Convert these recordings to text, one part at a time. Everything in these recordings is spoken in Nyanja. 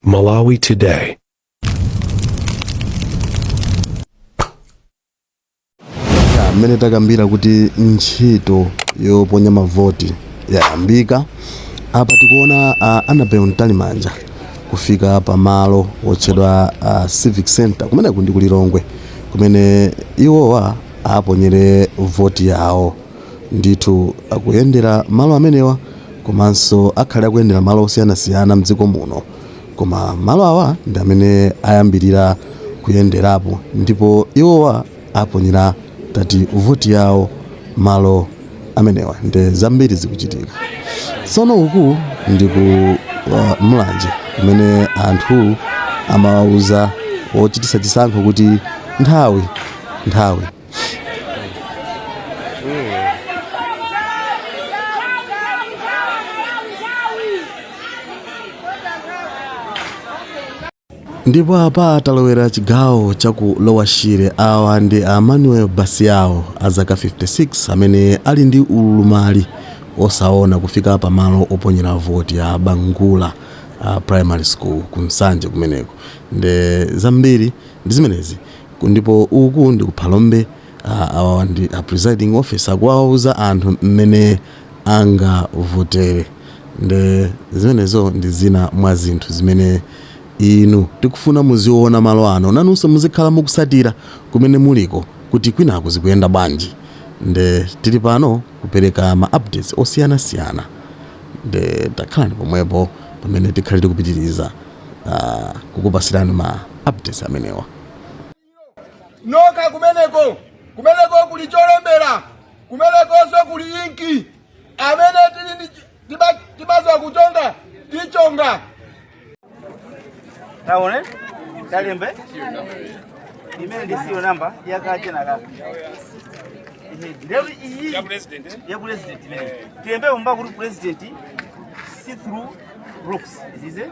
Malawi Today. Ya, mmene takambira kuti ntchito yoponya mavoti yayambika apa tikuona uh, Annabel Mtalimanja kufika pa malo otchedwa uh, Civic Center kumeneku ndi ku Lilongwe kumene iwowa aponyere voti yawo ndithu akuyendera malo amenewa komanso akhale akuyendera malo osiyanasiyana mdziko muno koma malo awa ndi amene ayambirira kuyenderapo ndipo iwowa aponyera tati voti yawo malo amenewa nde zambiri zikuchitika tsono uku ndi ku uh, Mulanje kumene anthu amawauza ochititsa chisankho kuti nthawi nthawi ndipo apa talowera chigawo cha ku Lower Shire awa ndi a manuel basiao a zaka 56 amene ali ndi ulumali osaona kufika pa malo oponyera voti a bangula primary school ku nsanje kumeneko nde zambiri ndi zimenezi Ndipo uku ndi ku Phalombe, awawa ndi a presiding officer kuwawuza anthu mmene angavotere nde zimenezo ndi zina mwa zinthu zimene inu tikufuna muziwona malo ano inunso muzikhala mukutsatira kumene muliko kuti kwinaku zikuyenda bwanji nde tili pano kupereka ma updates osiyana siyana nde dakhalani pomwepo pamene tikhale tikupitiliza kukupatsirani ma updates amenewa. nokha kumeneko kumeneko kuli cholembera kumenekonso kuli inki amene tili ndi chi- tiba- tibaza kuchonga tichonga taone talembe imene ndi serial namba yakache na kakalero iyi ya president imene tilembe umba kuti president see through box is it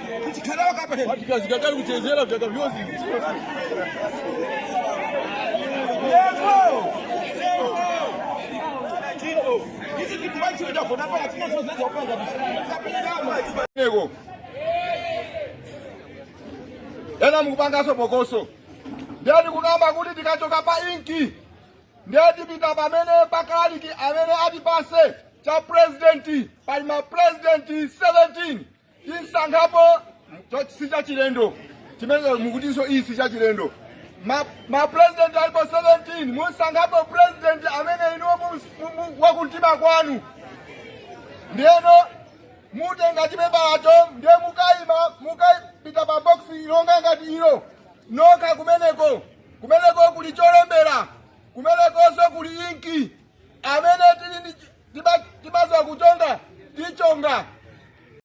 Nego. Ena mkupangaso bokoso. Ndiye tikukamba kuti tikachoka pa inki. Ndiye tipita pamene pa kalaliki amene atipatse cha president pali ma president 17 musankhapo si chachilendo chimene mukutinso iyi si chachilendo mapresident alipo 17 musankhapo president amene inuyo wakumtima kwanu ndiyeno mutenga chipepalacho ndiye mukayima mukapita pa boksi ilonga ngati ilo nokha kumeneko kumeneko kuli cholembera kumenekonso kuli inki amene timaziwa kuchonga tichonga